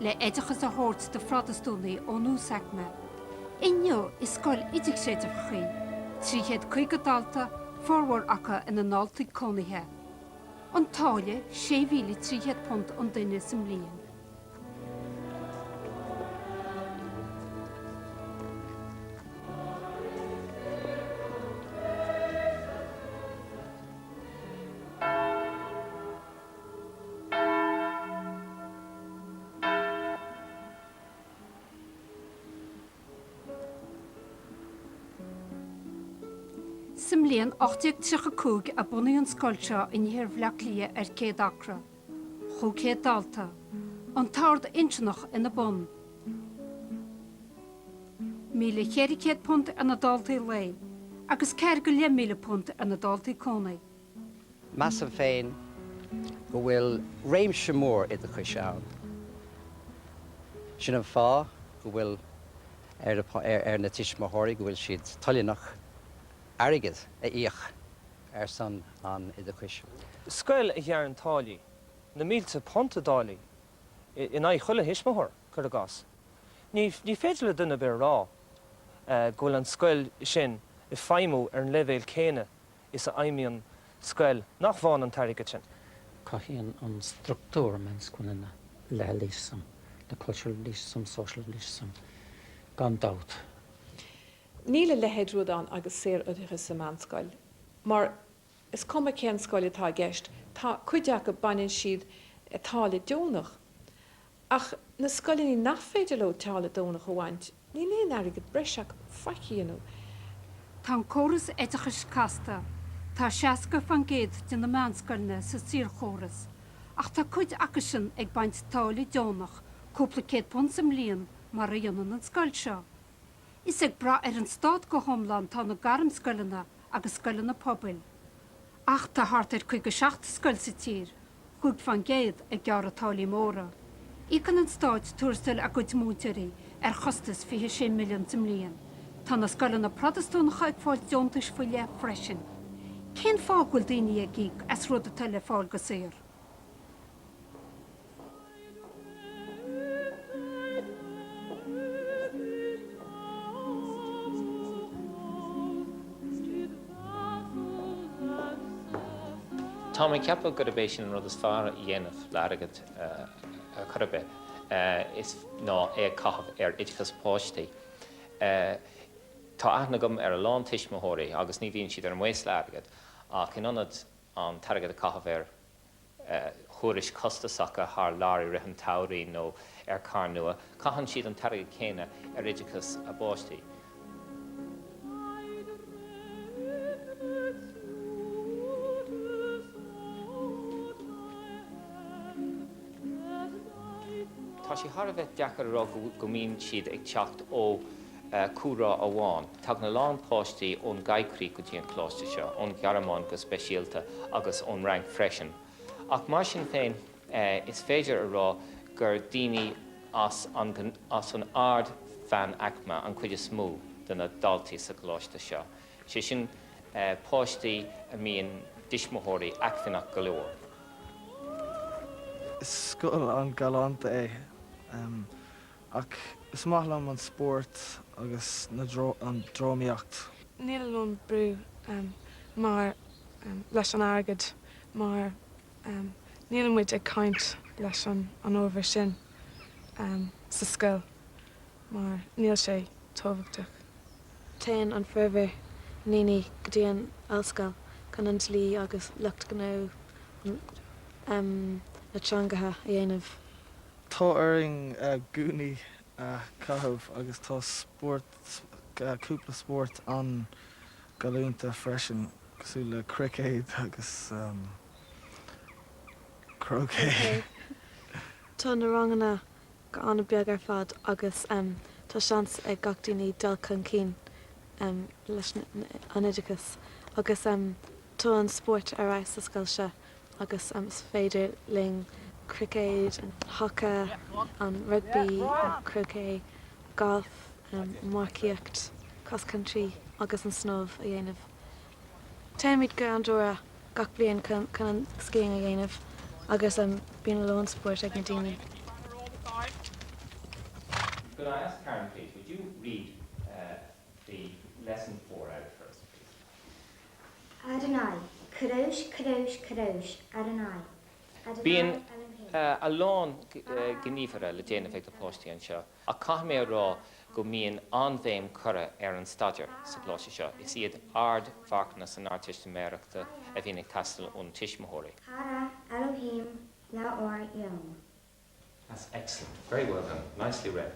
le oideachas a thabhairt do Phrotastúnaigh ón uasaicme. Inniu, is scoil idirchreidmheach í, trí chéad caoga dalta, formhór acu ina ndaltaí cónaithe. An táille, sé mhíle trí chéad punt an duine sa mbliain. Sa mbliain 1835 a bunaíodh an scoil seo in iarthar Bhleá Cliath ar 100 acra. 500 dalta, an t-ord Doiminiceach ina bun. £1,400 ar na daltaí lae agus ceathair go leith míle punt ar na daltaí cónaí. Measaim féin go bhfuil réimse mór oideachais ann. Sin an fáth go bhfuil ar na tuismitheoirí go bhfuil siad toilteanach airgead a íoc ar son an oideachais. Scoil a ghearrann táillí, na mílte punt i dtáillí, in aghaidh chuile thuismitheoir, cuir i gcás. Ní féidir le duine ar bith a rá go bhfuil an scoil sin ag feidhmiú ar an leibhéal céanna is a fheidhmíonn scoil nach bhfaigheann an t-airgead sin. Cothaíonn an structúr meánscoileanna elitism, cultural elitism, social elitism, gan dabht. Níl a leithéid rud ann agus saor-oideachas sa meánscoil, mar is cuma cén scoil atá i gceist, tá cuid acu, baineann siad táille deonach Ach na scoileanna nach féidir leo táille deonach a bhaint, níl aon airgead breis acu faic a dhéanamh. Tá an córas oideachais casta, tá 60% de na meánscoileanna sa saorchóras, ach tá cuid acusan ag baint táille deonach cúpla céad punt sa mbliain mar a dhéanann an scoil seo. Is ag brath ar an stát go hiomlán tá na gairmscoileanna agus scoileanna pobail. Ach tá thart ar 57 scoil sa tír 5 fán gcéad ag gearradh táillí móra. Íocann an stát tuarastal a gcuid múinteoirí ar chostas 26 milliún sa mbliain. Tá na scoileanna Protastúnacha ag fáil deontais faoi leith freisin. Cén fáth go bhfuil daoine ag íoc as rud atá le fáil go saor? Tá mé ag ceapadh gurb é sin an rud is fearr a dhéanamh le airgead ar chor ar bith, is ná é a chaitheamh ar oideachas páistí. Tá aithne agam ar a lán tuismitheoirí agus ní bhíonn siad ar maos le airgead ach in ionad an t-airgead a chaitheamh ar. thurais costasacha thar lear i rith an tsamhraidh nó ar charr nua, caitheann siad an t-airgead céanna ar oideachas a bpáistí. Tá sé thar a bheith deacair a rá go mbíonn siad ag teacht ó. chúlra amháin. Tagann a lán páistí ón gcoigríoch go dtí an coláiste seo, ón Ghearmáin go speisialta agus ón Fhrainc freisin. Ach mar sin féin is féidir a rá gur daoine as an ard mheánaicme an chuid is mó de na daltaí sa gcoláiste seo, sé sin páistí a mbíonn tuismitheoirí acmhainneach go leor. Is scoil an-ghalánta é. Ach is maith liom an spórt agus an drámaíocht. Níl aon bhrú mar leis an airgead mar níl muid ag caint leis an ábhar sin sa scoil mar níl sé tábhachtach. Téann an formhór daoine go dtí an ollscoil chun an dlí agus lucht gnó na teangacha a dhéanamh. Tá orainn gúnaí a chaitheamh agus tá spórt, cúpla spórt an-ghalánta freisin cosúil le cruicéad agus croquet. Tá na ranganna go h-ana beag ar fad agus tá seans ag gach daoine dul chun cinn leis an oideachas agus. Tá an spórt ar fheabhas sa scoil seo agus is féidir linn cruicéad, an haca, an rugbaí, croquet, galf, marcaíocht, cross country, agus an snámh a dhéanamh. Téimid go Andorra gach bliain chun an skiing a dhéanamh agus bíonn a lán spóirt ag na daoine. Could I ask Karen please, would you read the lesson four out first please? Adonai, Kadosh, Kadosh, Kadosh, Adonai. Bíonn a lán gníomhartha le déanamh ag na páistí anseo ach caithfidh mé a rá go mbíonn an-bhéim curtha ar an staidéar sa gcoláiste seo. Is iad ardmharcanna san Ardteistiméireachta a bhíonn ag teastáil ó na tuismitheoirí. Cara, Elohim, Leabhar Eoin. That's excellent. Very well done. Nicely read.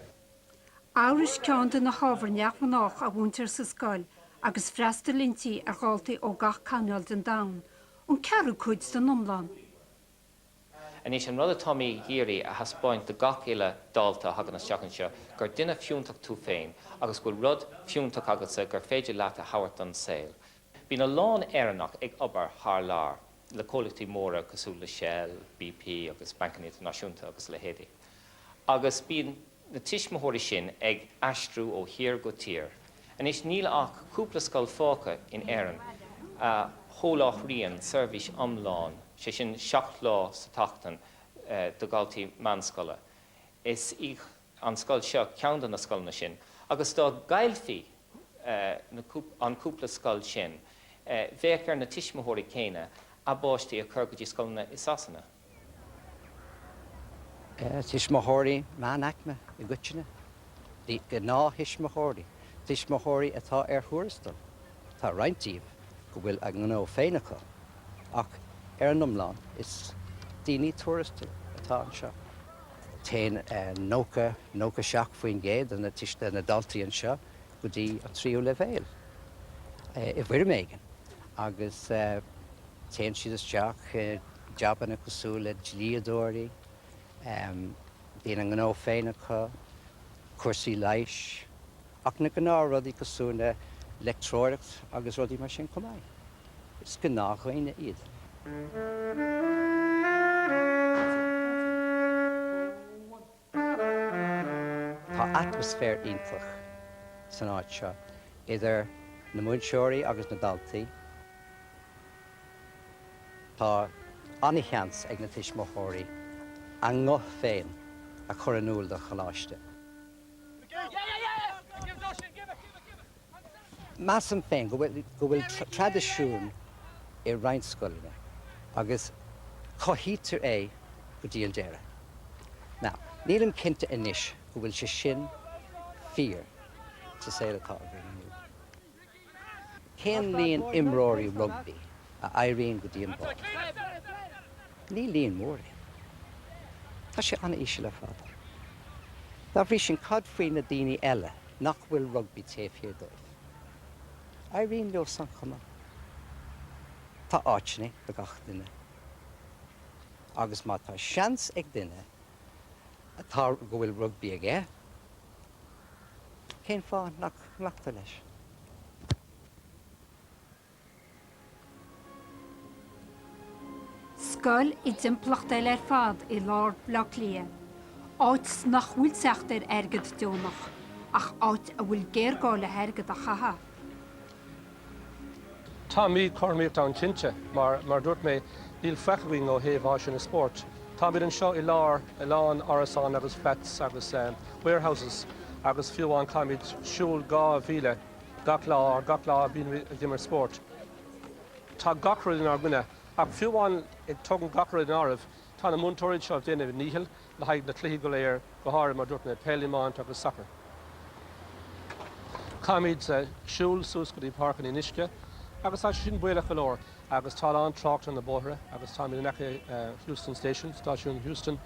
Eabhrais ceann de na hábhair neamhghnách a mhúintear sa scoil agus freastalaítear ar dhaltaí ó gach coirnéal den domhan, an ceathrú cuid den iomlán. Anois, an rud atá mé ag iarraidh a thaispeáint do gach uile dalta a thagann isteach anseo, gur duine fiúntach tú féin agus go bhfuil rud fiúntach agatsa gur féidir leat a thabhairt don saol. Bíonn a lán Éireannach ag obair thar lear, le comhlachtaí móra cosúil le Shell, BP agus Bancanna Idirnáisiúnta agus a leithéidí, agus bíonn na tuismitheoirí sin ag aistriú ó thír go tír. Anois níl ach cúpla scoil fágtha in Éirinn a sholáthraíonn seirbhís iomlán, sé sin seacht lá sa tseachtain, do dhaltaí meánscoile. Is í. an scoil seo ceann de na scoileanna sin agus dá gcaillfí an cúpla scoil sin bheadh ar na tuismitheoirí céanna a bpáistí a chur go dtí scoileanna i Sasana. Tuismitheoirí meánaicme i gcoitinne, gnáth-thuismitheoirí, tuismitheoirí atá ar thuarastal, Tá roinnt díobh go bhfuil a ngnó féin acu, ach ar an iomlán is daoine tuarastail atá anseo. Téann nócha seacht faoin gcéad de na tuis, de na daltaí anseo go dtí an tríú leibhéal, i bhfoirm éigin, agus téann siad isteach i jabanna cosúil le dlíodóirí, bíonn a ngnó féin acu, cúrsaí leighis, Ach na gnáthrudaí cosúil le leictreoireacht agus rudaí mar sin chomh maith. Is gnáthdhaoine iad. Tá atmaisféar iontach san áit seo, idir na múinteoirí agus na daltaí. Tá ana-sheans ag na tuismitheoirí a nguth féin a chur in iúl don choláiste. Measaim féin go bhfuil traidisiún i roinnt scoileanna agus cothaítear é go dtí an deireadh. Now, nílim cinnte anois go bhfuil sé sin fíor sa saol atá againn inniu. Cén líon imreoirí rugbaí a éiríonn go dtí an barr? Ní líon mór é. Tá sé an-íseal ar fad. Dá bhrí sin, cad faoi na daoine eile nach bhfuil rugbaí taobh thiar dóibh? Éiríonn leo san chomh maith. Tá áiteanna do gach duine. Agus má tá seans ag duine atá go bhfuil rugbaí aige, cén fáth nach nglactar leis? Scoil i dtimpeallacht eile ar fad i lár Bhaile Átha Cliath, áit nach bhfuil teacht ar airgead deonach ach áit a bhfuil géarghá le hairgead a chaitheamh. Tá míchothromaíocht ann cinnte, mar, mar a dúirt mé, níl faic againn ó thaobh áiseanna spóirt. Táimid anseo i lár a lán árasán agus flats agus warehouses agus fiú amháin caithfimid siúl dhá mhíle gach lá or gach lá ag imirt spóirt. Tá gach rud inár gcoinne. Ach fiú amháin ag tógaint gach rud in áireamh, tá na múinteoirí anseo ag déanamh a ndícheall le haghaidh na cluichí go léir, go háirithe, mar dúirt mé, peil, iomáint agus sacar. Caithfimid siúl suas go dtí Páirc an Fhionn Uisce agus tá sé sin baolach go leor agus tá a lán trácht ar na bóithre agus táimid in aice Heuston Station, Stáisiún Heuston,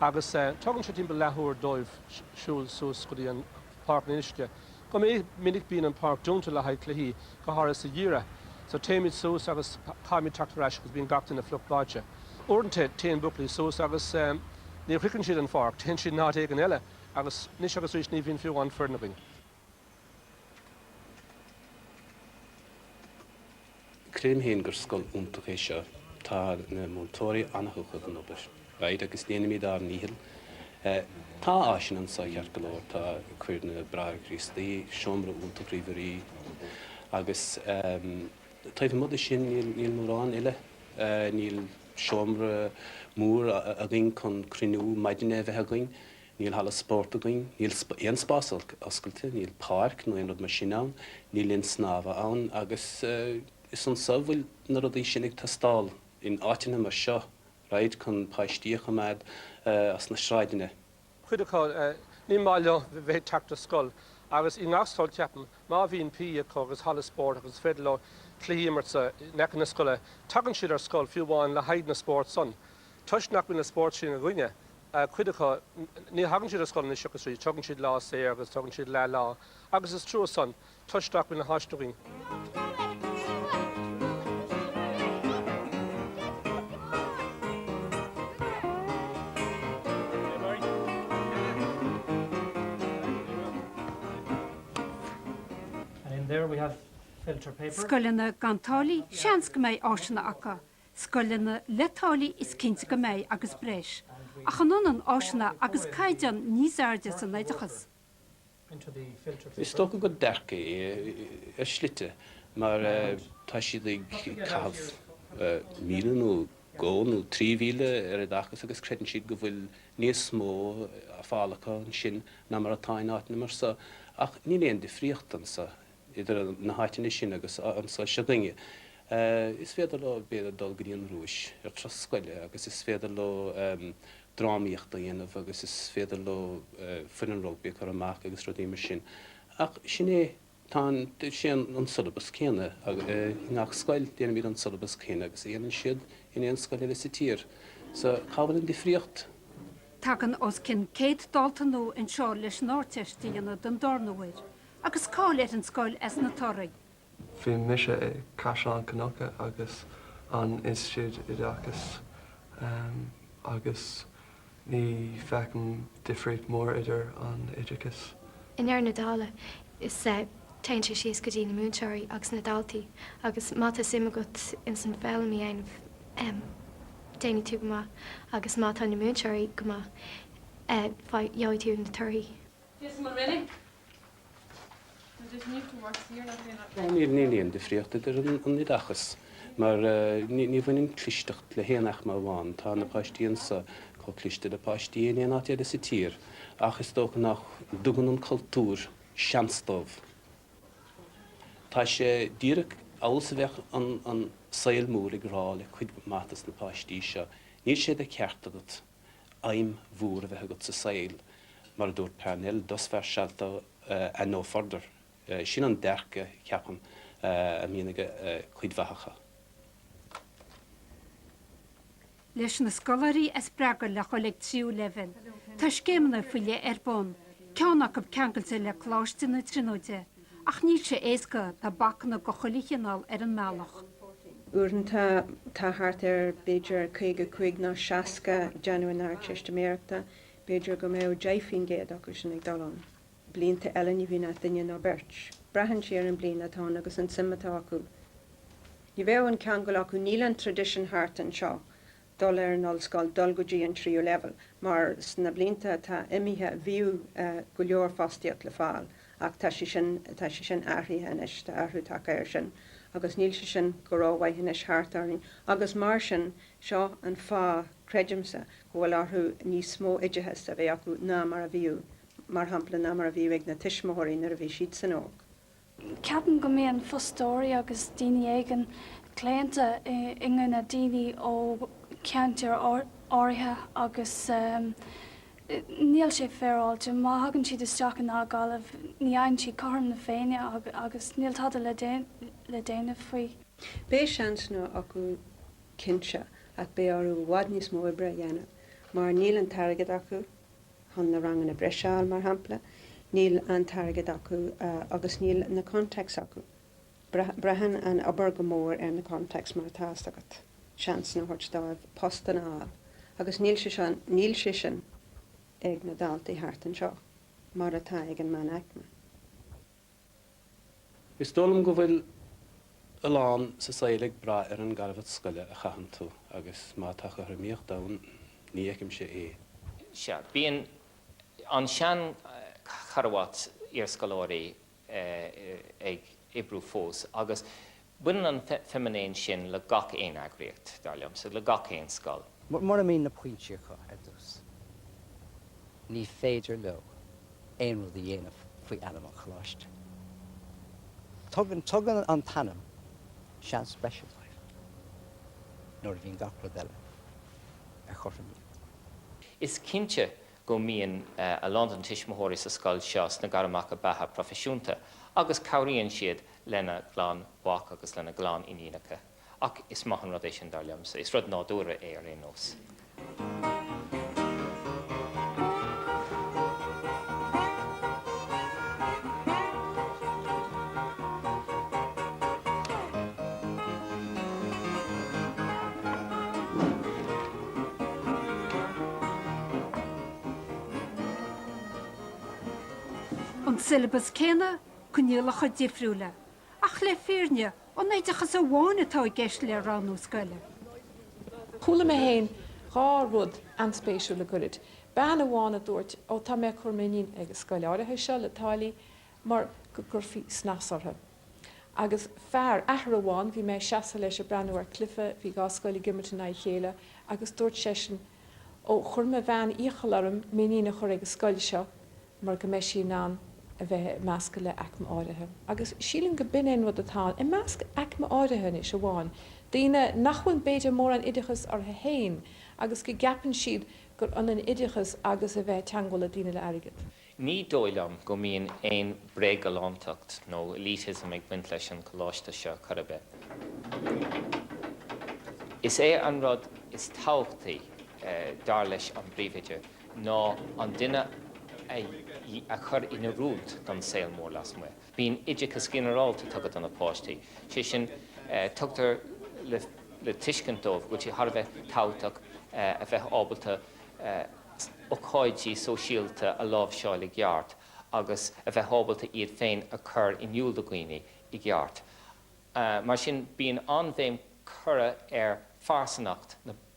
agus tógann sé timpeall leathuair dóibh siúl suas go dtí an. Páirc an Fhionn Uisce. Go minic bíonn an páirc dúnta le haghaidh cluichí, go háirithe sa gheimhreadh. So téimid suas agus caithfimid teacht ar ais agus bíonn gach duine fliuch báite. Uaireanta téann buachaillí suas agus ní shroicheann siad an pháirc, téann siad in áit éigin eile agus anois agus arís ní bhíonn fiú amháin foireann againn. Creidim féin gur scoil iontach é seo. Tá na múinteoirí ana-thugtha don obair. right, agus déanaimid ár ndícheall. Tá áiseanna anseo ceart go leor, tá chuir na Bráithre Críostaí, seomra iontach ríomhairí, agus taobh amuigh de sin níl mórán eile. Níl seomra mór againn chun cruinniú maidine a bheith againn. Níl halla spóirt againn, níl aon spás oscailte, níl páirc nó aon rud mar sin ann, níl linn snámha ann agus is anso a bhfuil na rudaí sin ag teastáil, in áiteanna mar seo, right, chun páistí a choimeád as na sráideanna. Cuid acu, ní maith leo bheith ag teacht ar scoil agus i ngach scoil, ceapaim, má bhíonn PE acu agus halla spóirt agus is féidir leo cluichí a imirt in aice na scoile, tagann siad ar scoil fiú amháin le haghaidh na spóirt san. Toisc nach bhfuil an spórt sin againne, cuid acu, ní thagann siad ar scoil anois agus arís, tógann siad lá saor agus tógann siad leathlá agus is trua san, toisc nach bhfuil na háiseanna againn. Scoileanna gan táillí? Seans go mbeidh áiseanna acu. scoileanna le táillí is cinnte go mbeidh agus breis, ach an ionann áiseanna agus caighdeán níos airde san oideachas? Is dócha gurb ea ar shlite mar tá siad ag caitheamh míle nó dhó nó trí mhíle ar oideachas agus creideann siad go bhfuil níos mó le fáil acu ansin ná mar atá in áiteanna mar so, ach níl aon difríocht anseo. idir na háiteanna sin agus an scoil seo againne. Is féidir leo, b'fhéidir, dul go dtí an Rúis ar thuras scoile agus is féidir leo drámaíocht a dhéanamh agus is féidir leo foireann rugbaí a chur amach agus rudaí mar sin. Ach sin é, tá sé an siollabas céanna i ngach scoil, déanaimid an siollabas céanna agus a dhéanann siad in aon scoil eile sa tír. So, cá bhfuil an difríocht? Tagann os cionn céad dalta nua anseo leis an Ardteist a dhéanamh don darna huair Agus cáil ar an scoil as na torthaí? Bhí mise i Caisleán Cnucha agus an Institiúid Oideachais agus ní feicim difríocht mór idir an oideachas. I ndeireadh na dála, is, téann sé síos go dtí na múinteoirí agus na daltaí agus má tá suim agat ins an foghlaim a dhéanamh, déanfaidh tú go maith agus má tá na múinteoirí go maith, gheobhaidh tú na torthaí. Níl aon difríocht idir an oideachas mar ní bhaineann clisteacht le haon aicme amháin, tá na páistí anseo chomh cliste le páistí in aon áit eile sa tír ach is dócha nach dtugann an cultúr seans dóibh. Tá sé díreach amhail is a bheadh an saol mór ag rá le cuid mhaith dos na páistí seo, níl sé de cheart agat. aidhm mhór a bheith agat sa saol, mar a dúirt Parnell, thus far shalt thou and no further. Sin an dearcadh, ceapaim, a mbíonn ag cuid mhaith acu. Leis na scoláirí a spreagadh le dhul ag an tríú leibhéal. Tá scéimeanna faoi leith ar bun, ceann acu ceangailte le Coláiste na Tríonóide. Ach níl sé éasca, tá bacanna de chuile chineál ar an mbealach. Uaireanta tá thart ar, b'fhéidir, 55 nó 60 ag déanamh na hArdteistiméireachta, b'fhéidir go mbeadh 10 faoin gcéad acu sin ag dul ann. Blianta eile ní bhíonn ach duine nó beirt. Braitheann sé ar an bliain atá ann agus an suim atá acu. Ní bheadh an ceangal acu, níl an tradition thart anseo, dul ar an ollscoil, dul go dtí an tríú leibhéal, mar sna blianta atá imithe bhíodh go leor fostaíocht le fáil ach tá sé sin, tá sé sin athraithe anois, tá athrú tagtha air sin agus níl sé sin go rómhaith anois thart orainn agus mar sin seo an fáth, creidimse, go bhfuil orthu níos mó oideachais a bheith acu ná mar a bhíodh, mar shampla, ná mar a bhíodh ag na tuismitheoirí nuair a bhí siadsan óg. Ceapaim go mbíonn fostóirí agus daoine éigin claonta i gcoinne daoine ó cheantair áirithe agus níl sé féaráilte. Má thagann siad isteach in agallamh ní fhaigheann siad cothrom na féinne agus níl tada le déanamh faoi. Beidh seansanna acu cinnte ach beidh orthu i bhfad níos mó oibre a dhéanamh mar níl an t-airgead acu. chun na ranganna breise a fháil, mar shampla, níl an t-airgead acu agus níl na contacts acu. Braitheann an obair go mór ar na contacts mar tá fhios agat, seansanna a thabhairt dóibh postanna a fháil agus níl sé seo, níl sé sin ag na daltaí thart anseo mar atá ag an meánaicme. Is dóigh liom go bhfuil a lán sa saol ag brath ar an gcarbhat scoile a chaitheann tú agus má tá cothromaíocht ann ní fheicimse é. Sea, bíonn an seancharbhat iarscoláirí ag oibriú fós agus Baineann an feiminéan sin le gach aon eagraíocht, dar liomsa, le gach aon scoil. Mura mbíonn na pointí acu ar dtús, ní féidir leo aon rud a dhéanamh faoi ainm an choláiste. Tugann an t-ainm seans breise dóibh nuair a bhíonn gach rud eile ar chothromaíocht. Is cinnte go mbíonn a lán de na tuismitheoirí sa scoil seo sna gairmeacha beatha proifisiúnta agus cabhraíonn siad lena gclann mhac agus lena gclann iníonacha, ach is maith an rud é sin, dar liomsa, is rud nádúrtha é ar aon nós. An siollabas céanna coinníollacha difriúla, ach le fírinne an é oideachas amháin atá i gceist le roghnú scoile. Chuala mé féin dhá rud an-spéisiúil le goirid. Bean amháin a dúirt, Ó tá mé ag cur m'iníon ag an scoil áirithe seo le táillí mar go gcuirfí snas orthu. Agus fear, athair amháin, bhí mé ag seasamh leis ag breathnú ar chluife, bhí dhá scoil ag imirt in aghaidh a chéile, agus dúirt seisean, Ó chuir mo bhean iachall orm m'iníon a chur ag an scoil seo mar go mbeidh sí in ann a bheith ag meascadh le aicme áirithe, agus sílim go b'in é an rud atá ann, i measc aicme áirithe anois amháin, daoine nach bhfuil b'fhéidir mórán oideachas orthu fhéin agus go gceapann siad gur ionann oideachas agus a bheith ag teagmháil le daoine le airgead. Ní dóigh liom go mbíonn aon bhréagghalántacht nó elitism ag baint leis an gcoláiste seo ar chor ar bith. Is é an rud is tábhachtaí, dar leis an bpríomhoide, ná an duine a chur in oiriúint don saol mór lasmuigh. Bíonn oideachas ginearálta tugtha do na páistí, sé sin, tugtar le tuiscint dóibh go bhfuil sé thar a bheith tábhachtach a bheith ábalta ócáidí sóisialta a láimhseáil i gceart agus a bheith ábalta iad féin a chur in iúl do dhaoine i gceart. Mar sin, bíonn an-bhéim curtha ar phearsanacht na.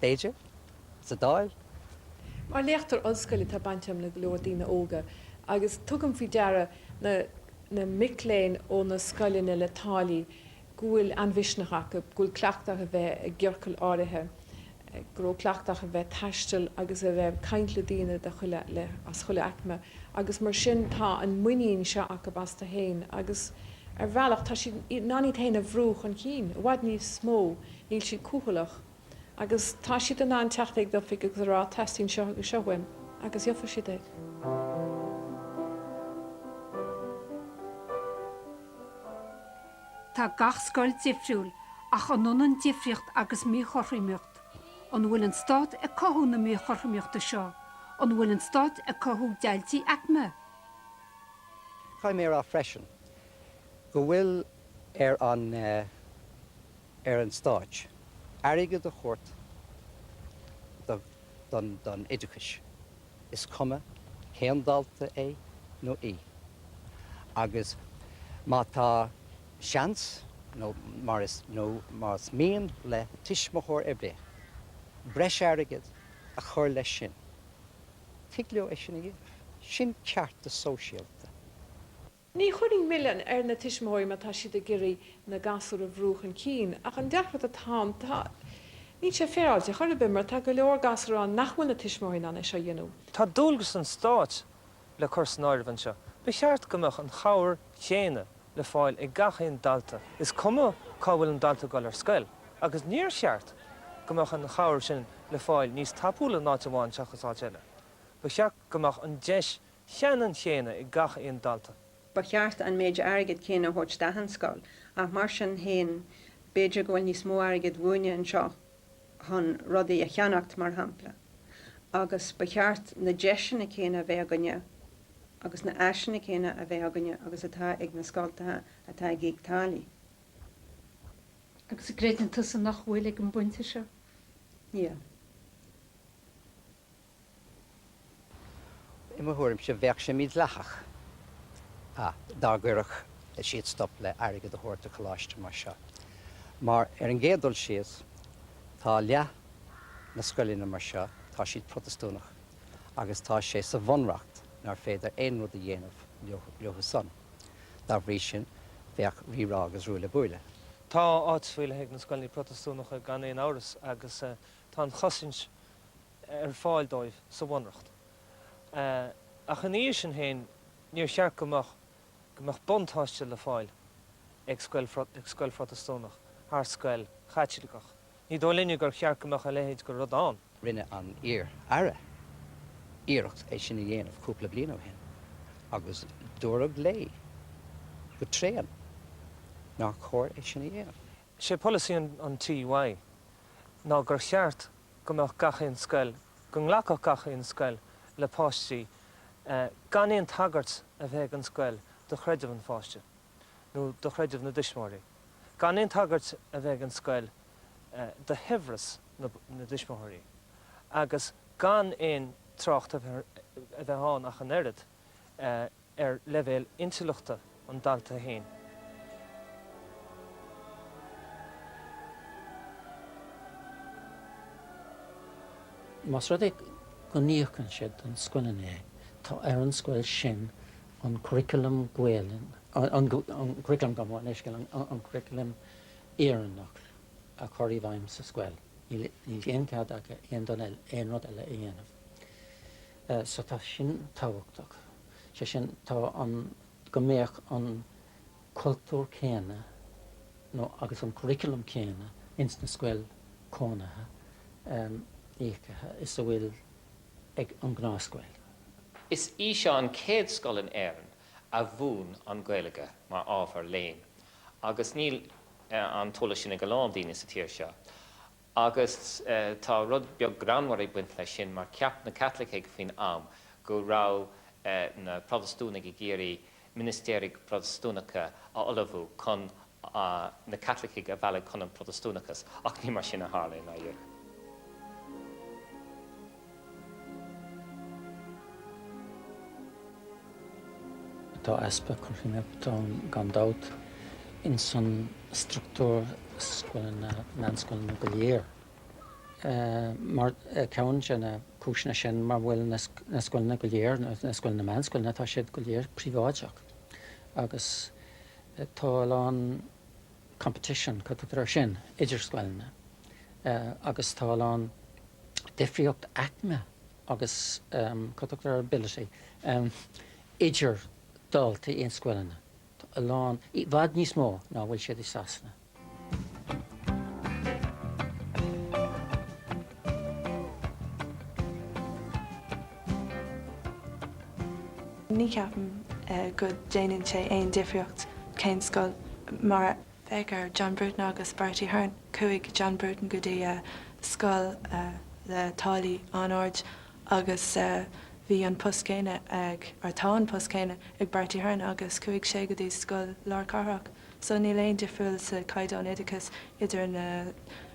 b'fhéidir, sa Dáil. Mar léachtóir ollscoile tá baint agam le go leor daoine óga agus tugaim faoi deara na mic léinn ó na scoileanna le táillí go bhfuil an-mhisneach acu, go bhfuil cleachtadh a bheith i gciorcail áirithe, go raibh cleachtadh a bheith ag taisteal agus a bheith ag caint le daoine as chuile aicme agus mar sin tá an muinín seo acu astu féin agus ar bhealach tá siad in ann iad féin a bhrú chun cinn, i bhfad níos mó, níl siad cúthaileach. agus tá siad in ann teacht ag d'oifig agus a rá 'teastaíonn seo agus seo uaim' agus gheofaidh siad é. Tá gach scoil difriúil, ach an ionann difríocht agus míchothromaíocht? An bhfuil an stát ag cothú na míchothromaíochta seo? An bhfuil an stát ag cothú deighiltí aicme? Caithfidh mé a rá freisin go bhfuil ar an. ar an stát airgead a thabhairt don oideachas, is cuma cén dalta é nó í. Agus má tá seans, nó mar is, nó más mian le tuismitheoir ar bith breis airgead a chur leis sin, tig leo é sin a dhéanamh. Sin ceartas sóisialta. Ní chuirfinn milleán ar na tuismitheoirí má tá siad ag iarraidh na gasúir a bhrú chun cinn, ach an deacracht atá ann, tá. níl sé féaráilte chor ar bith, mar tá go leor gasúr ann nach bhfuil na tuismitheoirí in ann é seo a dhéanamh. Tá dualgas an Stáit le cur san áireamh anseo. Ba cheart go mbeadh an chabhair chéanna le fáil ag gach aon dalta, is cuma cá bhfuil an dalta ag dul ar scoil, agus níor cheart go mbeadh an chabhair sin le fáil níos tapúla in áit amháin seachas áit eile. Ba cheart go mbeadh an deis cheanann chéanna ag gach aon dalta. Ba cheart an méid airgid chéanna a thabhairt d'achan scoil, ach mar sin féin, b'fhéidir go bhfuil níos mó airgid uainne anseo chun rudaí a cheannacht, mar shampla, agus ba cheart na deiseanna céanna a bheith againne agus na háiseanna céanna a bheith againne agus atá ag na scoltacha atá ag íoc táillí. Agus an gcreideann tusa nach bhfuil ag an bpointe seo? Níl. I mo thuairimse, bheadh sé mídhleathach dá gcuirfeadh siad stop le hairgead a thabhairt do choláiste mar seo, mar ar an gcéad dul síos, tá leath na scoileanna mar seo, tá siad Protastúnach agus tá sé sa Bhunreacht nar féidir aon rud a dhéanamh leothusan. Dá bhrí sin, bheadh rírá agus ruaille buaille. Tá áit faoi leith ag na scoileanna Protastúnacha gan aon amhras agus tá an chosaint, ar fáil dóibh sa Bhunreacht. Ach ina dhiaidh sin féin, níor cheart go mbeadh buntáiste le fáil ag scoil ag scoil Phrotastúnach thar scoil Chaitliceach. Ní dóigh linne gur cheart go mbeadh a leithéid de rud ann. Rinne an iar-Aire iarracht é sin a dhéanamh cúpla bliain ó shin agus dúradh léi go tréan nár chóir é sin a dhéanamh. Sé polasaí an TUI ná gur cheart go mbeadh gach aon scoil, go nglacfadh gach aon scoil le páistí gan aon tagairt a bheith ag an scoil do chreideamh an pháiste nó do chreideamh na dtuismitheoirí, gan aon tagairt a bheith ag an scoil do shaibhreas na dtuismitheoirí agus gan aon trácht a bheith ann ach an oiread, ar leibhéal intleachta an dalta féin. Más rud é go n-íocann siad do na scoileanna, tá ar an scoil sin an curriculum Gaolainn, an curriculum gabh mo leithscéal, an curriculum Éireannach a chur i bhfeidhm sa scoil. Níl aon chead acu aon rud eile a dhéanamh. So tá sin tábhachtach, sé sin, tá an go mbeadh an cultúr céanna nó agus an curriculum céanna ins na scoil cónaithe íocaithe is a bhfuil ag an gnáthscoil. Is í seo an céad scoil in Éirinn a mhúin an Gaeilge mar ábhar léinn agus níl an t-eolas sin ag a lán daoine sa tír seo. agus tá rud beag greannmhar ag baint leis sin, mar cheap na Caitlicigh faoin am go raibh na Protastúnaigh ag iarraidh ministéirí Phrotastúnacha a ullmhú chun na Caitlicigh a mhealladh chun an Phrotastúnachas, ach ní mar sin a tharla in aon chor. Tá easpa cruthaitheachta ann gan dabht ins an structúr scoileanna, meánscoileanna go léir. Mar ceann de na cúiseanna sin mar bhfuil na scoileanna go léir, na scoileanna meánscoileanna, tá siad go léir príobháideach agus tá a lán, competition, cad é sin? idir scoileanna agus tá a lán difríocht aicme agus cad é sin? ability idir daltaí in scoileanna, a lán, i bhfad níos mó ná a bhfuil siad i Sasana. Ní ceapaim go déanann sé aon difríocht cén scoil mar féach ar John Bruton agus Bertie Ahern. Chuaigh John Bruton go dtí scoil le táillí an-ard agus bhí an post céanna ag, or tá an post céanna ag Bertie Ahern agus chuaigh sé go dtí scoil lár cathrach. So níl aon difriúil sa caighdeán oideachais idir na.